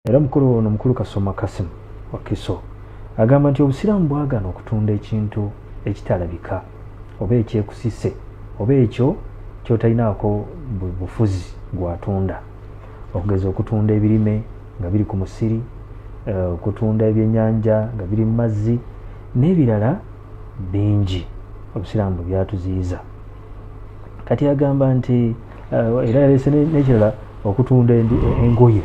era mukulu ono mukulu kasoma kasim wakiso agamba nti obusiraamu bwagana okutunda ekintu ekitalabika oba ekyekusise oba ekyo kyotalinaako bufuzi gwatunda okugeza okutunda ebirime nga biri ku musiri eh, okutunda ebyenyanja nga biri mu mazzi n'ebirala bingi obusiraamu bwe byatuziyiza kati agamba nti eh, era yalese nekirala okutunda engoye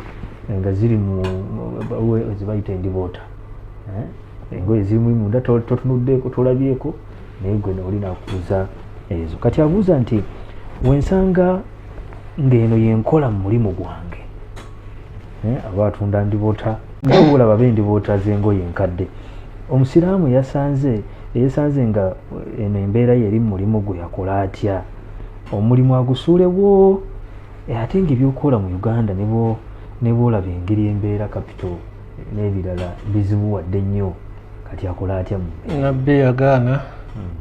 nga ziri muzebayita endiboota eh, engoye zirimu munda totunuddeeko tolabyeko naye gwe oli nakubuza ezo kati abuuza nti wensanga ng'eno yenkola mu mulimu gwange eh, aba atunda ndibota ngaola babe ndibota zengoye enkadde omusiraamu yasanze eyesanze nga eno embeera yeri mu mulimu gwe yakola atya omulimu agusuulewo eh, ate nga ebyokukola mu uganda nebwolaba engeri embeera capital n'ebirala bizibuwadde nnyo kati akole atya nabbi yagaana hmm.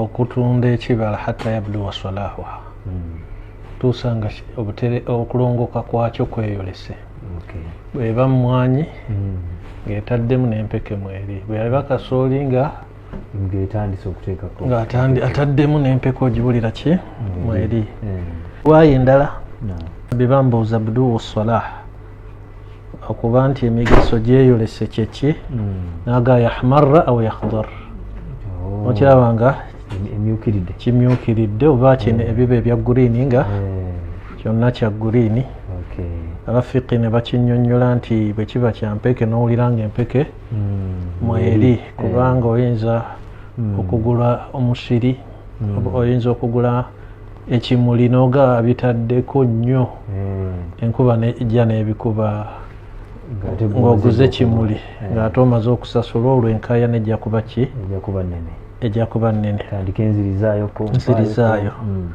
okutunda ekibala hatta yabluwa salahuha hmm. tuusa nga okulongoka kwakyo kweyolese bweba mumwanyi hmm. ng'etaddemu n'empeke mweri bweyaba kasooli nga ng'etandise okuteekako ng'ataddemu n'empeka ogiwulira ki mm. mweri mm. waayo endala be bambuuza buduwu salah okuba nti emigaso gyeyolese kyeki mm. naga yahmarra au yahdar oh. okiraba nga kimyukiridde oba kino ebiba ebya gurini nga kyonna kya gurini abafiqi ne bakinyonyola nti bwe kiba kya mpeke n'owulira nga empeke mm. mweri mm. kubanga oyinza mm. okugula omusiri mm. oyinza okugula ekimuli noga bitaddeko nnyo mm. enkuba ejja n'ebikuba ng'oguze ekimuli eh. ng'ate omaze okusasula olwo enkaya nejja kuba ki ejja kuba nnene nzirizaayo mm.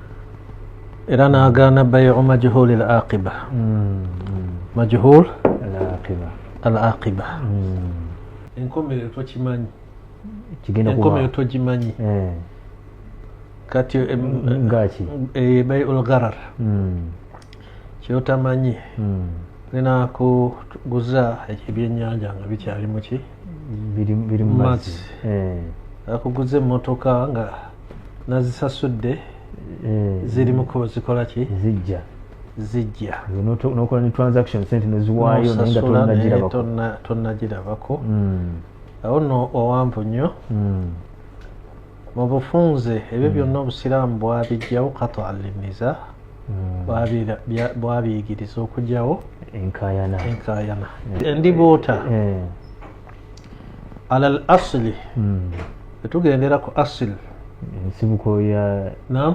era n'agaana baye omajhul al aqiba mm, mm. majhul al aqiba al aqiba hmm. enkomerero tokimanyi enkomerero togimanyi eh. kati eh, mm, ngaki eh, bai ulgarar hmm. kyotamanyi hmm. tulina kuguza ebyenyanja nga bikyali muki biri mumazzi akuguza emotoka nga nazisasudde ziri mukubo zikola ki zijja zijja nokola ne transaction sente neziwaayo naye nga tonnagirabako hmm. awo no owanvu nnyo hmm. mu bufunze ebyo hmm. byonna obusiraamu bwabijjawo kata alimiza bwabiyigiriza okugyawo enkayana enkayana endibuuta eh. ala al asili etugendera ku asili ensibuko ya nam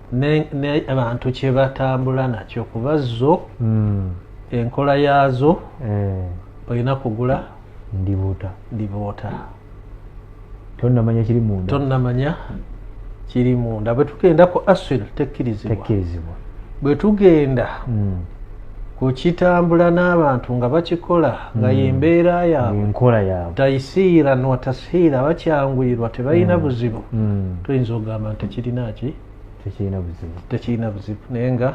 abantu kyebatambula nakyo kuba zo hmm. enkola yaazo eh. olina kugula ndibuuta ndibuuta tonamanya kiri munda tonamanya kiri munda bwetugenda ku aswil tekkirizibwa bwetugenda hmm. kukitambula n'abantu nga bakikola nga hmm. yembeera yaabwenkola yaabwe taisiira nwa tasiira bakyanguyirwa tebalina hmm. buzibu hmm. tuyinza okugamba nti tekirina ki tekirina buzibu tekirina buzibu naye nga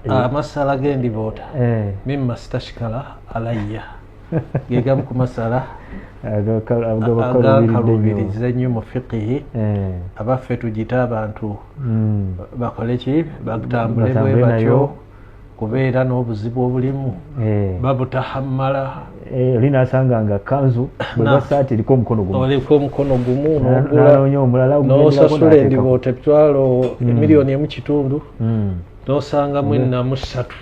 eh, amasala gendiboota eh. mima sitashikala alayya gegamu ku masala agakalubiriza ennyo mu fiqihi eh. abaffe tugite abantu hmm. bakoleki batambule bwe batyo kubeera n'obuzibu obulimu eh. babutahammala eh, oli nasanga nga kanzu bwebasaati eriko omukono gumuoliko omukono gumu nogulaonya omulala nosasula endiboota emitwalo hmm. emiliyoni emu kitundu hmm. nosanga mwena musatu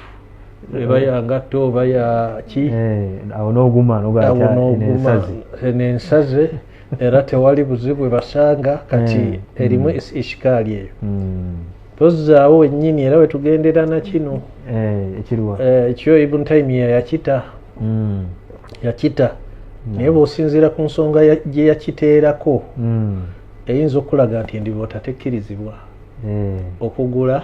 eba ya ngatto oba ya ki eh, awo n'oguma nogaensazi nensaze era tewali buzibu ebasanga kati eh, erimu mm. ishikaali eyo mm. tozzaawo wennyini era wetugendera nakino eh, ekyo ibun taimiya yakita mm. yakita naye bwosinziira ku nsonga gye yakiteerako eyinza okulaga nti endiboota tekkirizibwa okugula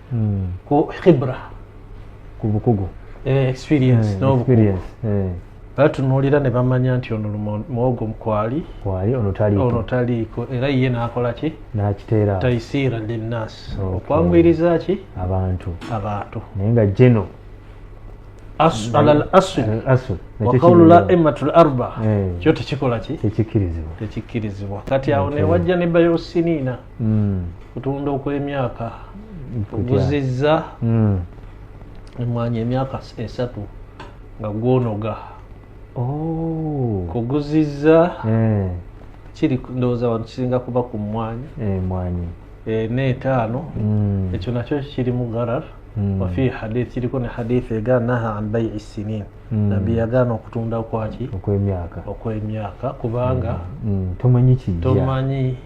hmm. ku khibra ku bukugu eh, experience hmm, n'obukugu batunuulira ne bamanya nti ono muwogo mukwali kwali ono taliiko era ye nakola ki nakiteera taisiira linnas okwanguyiriza ki abantu abantu naye nga geno ala al asul waqaulu la imatu l arba eh. kyo tekikola ki tekikkirizibwa tekikkirizibwa kati awo newajja ne bayosiniina mm. kutunda okwemyaka oguzizza mm. emwanyi emyaka esatu nga gwonoga oh. kuguzizza eh. kiri ndowooza wano kisinga kuba ku mwanyi emwanyi eh, eh, neetaano mm. ekyo nakyo kiri mu garar mm. wafi hadith kiriko ne hadith ega naha an bai sinin mm. nabbi yagaana okutunda kwaki okwemyaka okwemyaka kubanga tomanyi